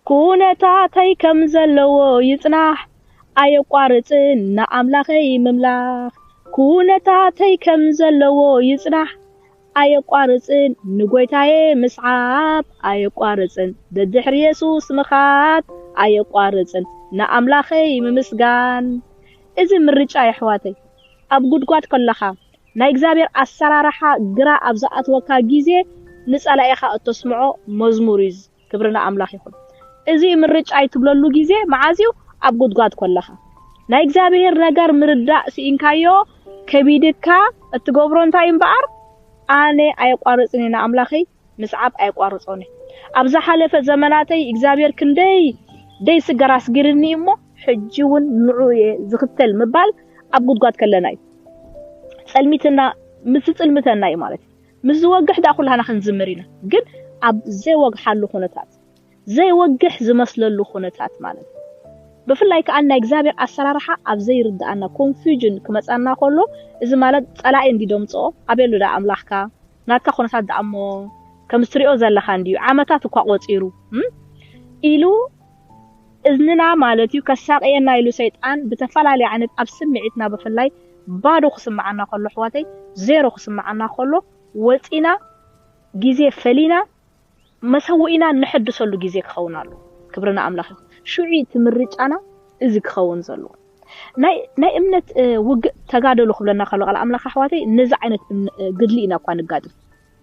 ኩነታተይ ከም ዘለዎ ይጽናሕ ኣየቋርጽን ንኣምላኸይ ምምላኽ ኩነታተይ ከም ዘለዎ ይጽናሕ ኣየቋርጽን ንጎይታየ ምስዓብ ኣየቋርጽን ደድሕሪ የሱስ ምኻድ ኣየቋርጽን ንኣምላኸይ ምምስጋን እዚ ምርጫ የሕዋተይ ኣብ ጉድጓድ ከለኻ ናይ እግዚኣብሔር ኣሰራርሓ ግራ ኣብ ዝኣትወካ ግዜ ንጸላኢኻ እተስምዖ መዝሙር እዩ ክብሪ ንኣምላኽ ይኹን እዚ ምርጫይ ትብለሉ ግዜ መዓዝ እዩ ኣብ ጉድጓድ ኮለኻ ናይ እግዚኣብሔር ነገር ምርዳእ ስኢንካዮ ከቢድካ እትገብሮ እንታይ እዩ እምበኣር ኣነ ኣየቋርጽን እየ ንኣምላኸይ ምስዓብ ኣየቋርጾን እየ ኣብ ዝሓለፈ ዘመናተይ እግዚኣብሔር ክንደይ ደይ ስገር ኣስጊርኒ እዩ እሞ ሕጂ ውን ንዑኡ እየ ዝኽተል ምባል ኣብ ጉድጓድ ከለና እዩ ጸልሚትና ምስ ዝጽልምተና እዩ ማለት እዩ ምስ ዝወግሕ ደኣ ኩላህና ክንዝምር ኢና ግን ኣብ ዘይወግሓሉ ኩነታት ዘይወግሕ ዝመስለሉ ኩነታት ማለት እዩ ብፍላይ ከኣ ናይ እግዚኣብሔር ኣሰራርሓ ኣብ ዘይርድኣና ኮንፊውጅን ክመጻና ከሎ እዚ ማለት ጸላኢ እንዲ ደምጽኦ ኣበሉ ደኣ ኣምላኽካ ናትካ ኩነታት ደኣ እሞ ከምስትሪኦ ዘለኻ እንዲዩ ዓመታት እኳ ቆጺሩ ኢሉ እዝንና ማለት እዩ ከሳቅየና ኢሉ ሰይጣን ብተፋላለየ ዓይነት ኣብ ስሚዒትና ብፍላይ ባዶ ክስማዓና ከሎ ኣሕዋተይ ዜሮ ክስማዓና ከሎ ወጺና ግዜ ፈሊና መሰውኢና እነሐድሰሉ ግዜ ክከውን ኣለዎ ክብሪ ንኣምላክ ይኩን ሹዑ እዩ እቲ ምርጫና እዚ ክከውን ዘለዎ ናይ ናይ እምነት ውግእ ተጋደሉ ክብለና ከሎ ቃል ኣምላክ ኣሕዋተይ ነዚ ዓይነት ግድሊ ኢና እኳ ንጋጥም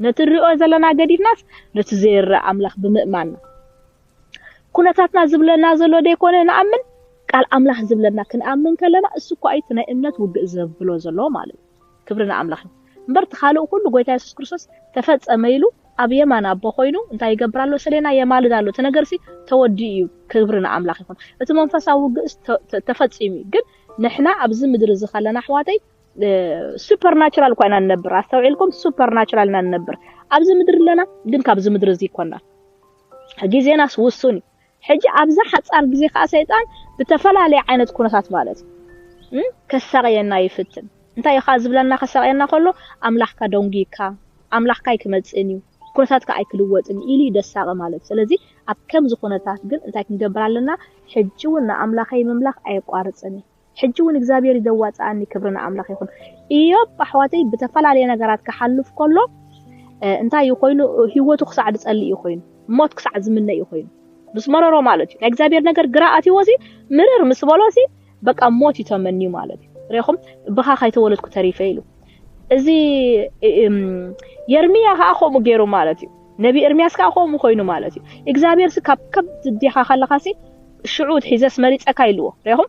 ነቲ ንሪኦ ዘለና ገዲፍናስ ነቲ ዘይረኣ ኣምላክ ብምእማንና ኩነታትና ዝብለና ዘሎ ደይኮነ ንኣምን ቃል ኣምላኽ ዝብለና ክንኣምን ከለና እሱ እኳ እዩ እቲ ናይ እምነት ውግእ ዘብሎ ዘሎ ማለት እዩ ክብሪ ንኣምላኽ ይኹን እምበር እቲ ካልእ ኩሉ ጎይታ የሱስ ክርስቶስ ተፈጸመ ኢሉ ኣብ የማን ኣቦ ኮይኑ እንታይ ይገብር ኣሎ ሰሌና የማልድ ኣሎ እቲ ነገርሲ ተወዲኡ እዩ ክብሪ ንኣምላኽ ይኹን እቲ መንፈሳዊ ውግእስ ተፈጺሙ እዩ ግን ንሕና ኣብዚ ምድሪ እዚ ከለና ኣሕዋተይ ሱፐርናቹራል እኳ ኢና ንነብር ኣስተውዒልኩም ሱፐርናቹራል ኢና ንነብር ኣብዚ ምድሪ ኣለና ግን ካብዚ ምድሪ እዚ ይኮና ግዜናስ ውሱን እዩ ሕጂ ኣብዛ ሓጻር ግዜ ከኣ ሰይጣን ብተፈላለየ ዓይነት ኩነታት ማለት እዩ ከሳቕየና ይፍትን እንታይ እዩ ከኣ ዝብለና ከሳቕየና ከሎ ኣምላኽካ ደንጉይካ ኣምላኽካ ኣይክመጽእን እዩ ኩነታትካ ኣይክልወጥን እዩ ኢሉ እዩ ደሳቒ ማለት ስለዚ ኣብ ከምዚ ኩነታት ግን እንታይ ክንገብር ኣለና ሕጂ እውን ንኣምላኸይ ምምላኽ ኣየቋርጽን እየ ሕጂ ውን እግዚኣብሄር ዩ ዘዋጽኣኒ ክብሪ ንኣምላኽ ይኹን። እዮብ ኣሕዋተይ ብተፈላለየ ነገራት ክሓልፍ ከሎ እንታይ እዩ ኮይኑ ሂወቱ ክሳዕ ዝጸልእ እዩ ኮይኑ ሞት ክሳዕ ዝምነ እዩ ኮይኑ ምስ መረሮ ማለት እዩ ናይ እግዚኣብሄር ነገር ግራ ኣትዎ ሲ ምርር ምስ በሎ ሲ በቃ ሞት እዩ ተመንዩ ማለት እዩ ሬኹም ብኻ ካይተወለድኩ ተሪፈ ኢሉ እዚ የርምያ ከዓ ከምኡ ገይሩ ማለት እዩ ነቢ ኤርምያስ ከዓ ከምኡ ኮይኑ ማለት እዩ እግዚኣብሄር ሲ ካብ ከብዲ ዲኻ ከለኻ ሲ ሽዑ ሒዘስ መሪጸካ ኢልዎ። ርኢኹም?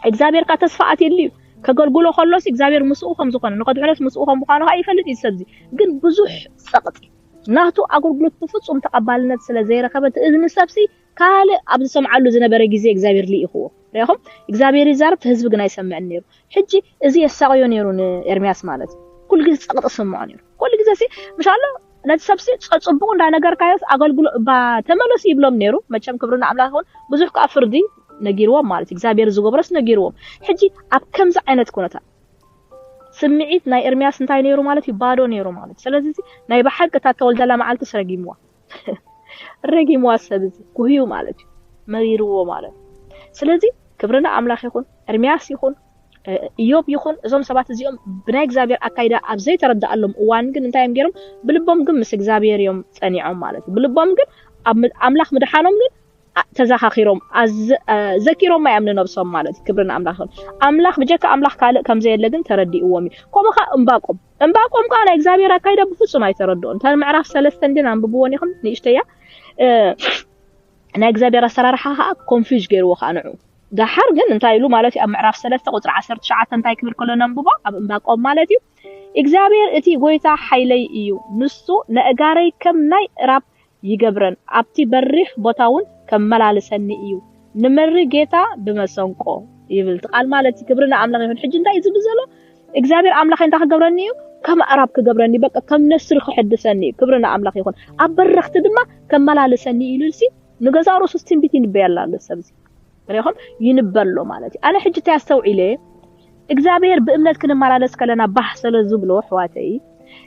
እግዚኣብሄር ከኣ ተስፋ ኣትይሉ እዩ። ከገልግሎ ከሎሲ እግዚኣብሄር ምስኡ ከም ዝኾነ፣ ንኸድሕኖስ ምስኡ ከም ምዃኑ ከኣ ይፈልጥ እዩ እዚ ሰብዚ። ግን ብዙሕ ጸቕጢ። ናቱ ኣገልግሎት ብፍጹም ተቐባልነት ስለ ዘይረኸበ እቲ እዝኒ ሰብሲ ካልእ ኣብ ዝሰምዓሉ ዝነበረ ግዜ እግዚኣብሄር ልኢኽዎ። ርኢኹም? እግዚኣብሄር ይዛረብ እቲ ህዝቢ ግን ኣይሰምዕን ነይሩ። ሕጂ እዚ የሳቕዮ ነይሩ ንኤርምያስ ማለት ኩሉ ግዜ ጸቕጢ ዝስምዖ ነይሩ። ኩሉ ግዜሲ ምሽ ኣሎ። ነቲ ሰብሲ ጸጽቡቑ እንዳ ነገርካዮስ ኣገልግሎ እባ ተመለሱ ይብሎም ኔሩ መቸም ክብሪ ንኣምላኽ ይኹን ብዙሕ ከኣ ፍርዲ ነጊርዎም ማለት እዩ እግዚኣብሔር ዝገብሮስ ነጊርዎም ሕጂ ኣብ ከምዚ ዓይነት ኩነታት ስምዒት ናይ ኤርምያስ እንታይ ነይሩ ማለት እዩ ባዶ ነይሩ ማለት ስለዚ እዚ ናይ ብሓቂ እታ ተወልደላ መዓልትስ ረጊምዋ ረጊምዋ ሰብ እዚ ጉህዩ ማለት እዩ መሪርዎ ማለት ስለዚ ክብርና ኣምላኽ ይኹን ኤርምያስ ይኹን እዮብ ይኹን እዞም ሰባት እዚኦም ብናይ እግዚኣብሔር ኣካይዳ ኣብ ዘይተረድኣሎም እዋን ግን እንታይ እዮም ገይሮም? ብልቦም ግን ምስ እግዚኣብሔር እዮም ጸኒዖም ማለት እዩ። ብልቦም ግን ኣምላኽ ምድሓኖም ግን ተዘኻኺሮም ዘኪሮማ እዮም ንነብሶም ማለት እዩ። ክብሪ ንኣምላኽ ይኹን። ኣምላኽ ብጀካ ኣምላኽ ካልእ ከም ዘየለ ግን ተረዲእዎም እዩ። ከምኡ ከኣ እምባቆም እምባቆም ከኣ ናይ እግዚኣብሔር ኣካይዳ ብፍጹም ኣይተረድኦን። እታ ምዕራፍ ሰለስተን ግን ኣንብብወን ኢኹም ንእሽተያ ናይ እግዚኣብሔር ኣሰራርሓ ከኣ ኮንፍዩዝ ገይርዎ ከኣ ንዑ ደሓር ግን እንታይ ኢሉ ማለት እዩ ኣብ ምዕራፍ ሰለስተ ቁጽሪ ዓሰርተ ትሽዓተ እንታይ ክብል ከሎ ነንብቦ ኣብ እምባቆም ማለት እዩ እግዚኣብሔር እቲ ጎይታ ሓይለይ እዩ ንሱ ነእጋረይ ከም ናይ እራብ ይገብረን ኣብቲ በሪኽ ቦታ እውን ከመላልሰኒ እዩ ንምሪ ጌታ ብመሰንቆ ይብል እቲ ቃል ማለት እዩ ክብሪ ንኣምላኽ ይኹን ሕጂ እንታይ እዩ ዝብል ዘሎ እግዚኣብሔር ኣምላኸይ እንታይ ክገብረኒ እዩ ከም ኣዕራብ ክገብረኒ እዩ በቃ ከም ነስሪ ክሕድሰኒ እዩ ክብሪ ንኣምላኽ ይኹን ኣብ በረኽቲ ድማ ከመላልሰኒ እዩ ኢሉልሲ ንገዛእ ርእሱስ ትንቢት ይንበየላ ኣሎ ሰብዚ ሪኹም ይንበሎ ማለት እዩ ኣነ ሕጂ እንታይ ኣስተውዒለ እግዚኣብሔር ብእምነት ክንመላለስ ከለና ባህ ስለ ዝብሎ ኣሕዋተይ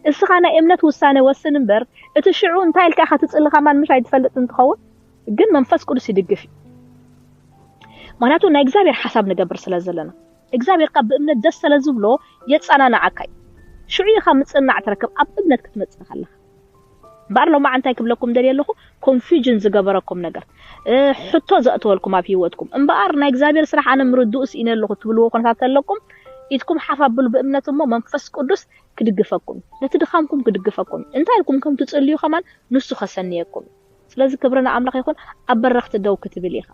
እስኻ ናይ እምነት ውሳነ ወስን እምበር እቲ ሽዑ እንታይ ኢልካ ኢኻ ትጽሊ ከማን ምሽ ኣይትፈልጥ እንትኸውን ግን መንፈስ ቅዱስ ይድግፍ እዩ ምክንያቱ ናይ እግዚኣብሔር ሓሳብ ንገብር ስለ ዘለና እግዚኣብሔር ከኣ ብእምነት ደስ ሰለ ዝብሎ የጸናንዓካ እዩ። ሽዑ ኢኻ ምጽንናዕ ትረክብ ኣብ እምነት ክትመጽእ ከለኻ። እምበኣር ሎማዕ እንታይ ክብለኩም ደልየ ኣለኹ ኮንፍዩጅን ዝገበረኩም ነገር ሕቶ ዘእተወልኩም ኣብ ህይወትኩም እምበኣር ናይ እግዚኣብሔር ስራሕ ኣነ ምርድኡ ስኢነ ኣለኹ ትብልዎ ኩነታት ተለኩም ኢድኩም ሓፍ ኣብሉ ብእምነት እሞ መንፈስ ቅዱስ ክድግፈኩም እዩ። ነቲ ድኻምኩም ክድግፈኩም እዩ። እንታይ ኢልኩም ከም ትጽልዩ ከማን ንሱ ከሰንየኩም እዩ። ስለዚ ክብሪ ንኣምላኽ ይኹን ኣብ በረኽቲ ደው ክትብል ኢኻ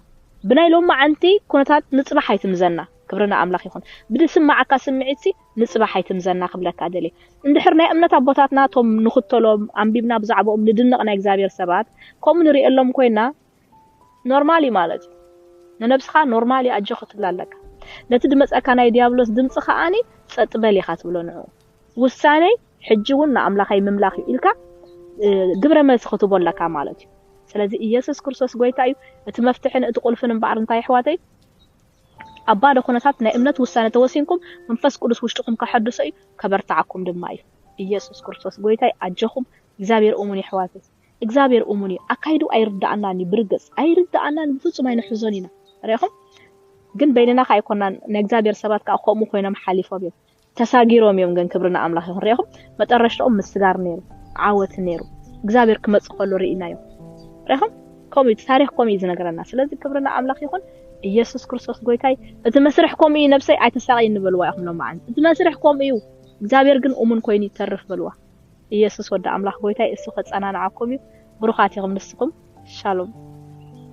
ብናይ ሎማዓንቲ ኩነታት ንጽባሕ ኣይትምዘና ክብሪ ንኣምላኽ ይኹን ብድስማዓካ ስምዒትሲ ንጽባሕ ኣይትምዘና ክብለካ ደልየ እንድሕር ናይ እምነት ኣቦታትና እቶም ንኽተሎም ኣንቢብና ብዛዕብኦም ንድነቕ ናይ እግዚኣብሔር ሰባት ከምኡ ንርእየሎም ኮይና ኖርማል እዩ ማለት እዩ ንነብስኻ ኖርማል እዩ ኣጆኺ ትብላ ኣለካ ነቲ ድመጸካ ናይ ድያብሎስ ድምጺ ከኣ ጸጥ በል ኢኻ ትብሎ ንዕኡ ውሳነይ ሕጂ ውን ንኣምላኸይ ምምላኽ እዩ ኢልካ ግብረ መልሲ ክትቦ ኣለካ ማለት እዩ ስለዚ ኢየሱስ ክርስቶስ ጎይታ እዩ እቲ መፍትሕን እቲ ቁልፍን እምበኣር እንታይ የሕዋተይ ኣብ ባዶ ኩነታት ናይ እምነት ውሳነ ተወሲንኩም መንፈስ ቅዱስ ውሽጥኹም ከሐድሶ እዩ ከበርትዓኩም ድማ እዩ ኢየሱስ ክርስቶስ ጎይታይ ኣጀኹም እግዚኣብሔር እሙን የሕዋተይ እግዚኣብሔር እሙን እዩ ኣካይድኡ ኣይርድኣናን እዩ ብርግጽ ኣይርድኣናን ብፍጹም ኣይንሕዞን ኢና ርኢኹም ግን በይንና ከኣ ኣይኮናን ናይ እግዚኣብሔር ሰባት ከኣ ከምኡ ኮይኖም ሓሊፎም እዮም ተሳጊሮም እዮም ግን ክብሪ ንኣምላኽ ይኹን ርኢኹም መጠረሽትኦም ምስጋር ነይሩ ዓወት ነይሩ እግዚኣብሔር ክመጽእ ከሎ ርኢናዮ ርኢኹም ከምኡ እዩ ታሪኽ ከምኡ እዩ ዝነገረና ስለዚ ክብሪ ንኣምላኽ ይኹን ኢየሱስ ክርስቶስ ጎይታይ እቲ መስርሕ ከምኡ እዩ ነብሰይ ኣይተሳቀይ ንበልዋ ኢኹም ሎማዓንቲ እቲ መስርሕ ከምኡ እዩ እግዚኣብሔር ግን እሙን ኮይኑ ይተርፍ በልዋ ኢየሱስ ወዲ ኣምላኽ ጎይታይ እሱ ከጸናንዓኩም እዩ ብሩኻት ኢኹም ንስኹም ሻሎም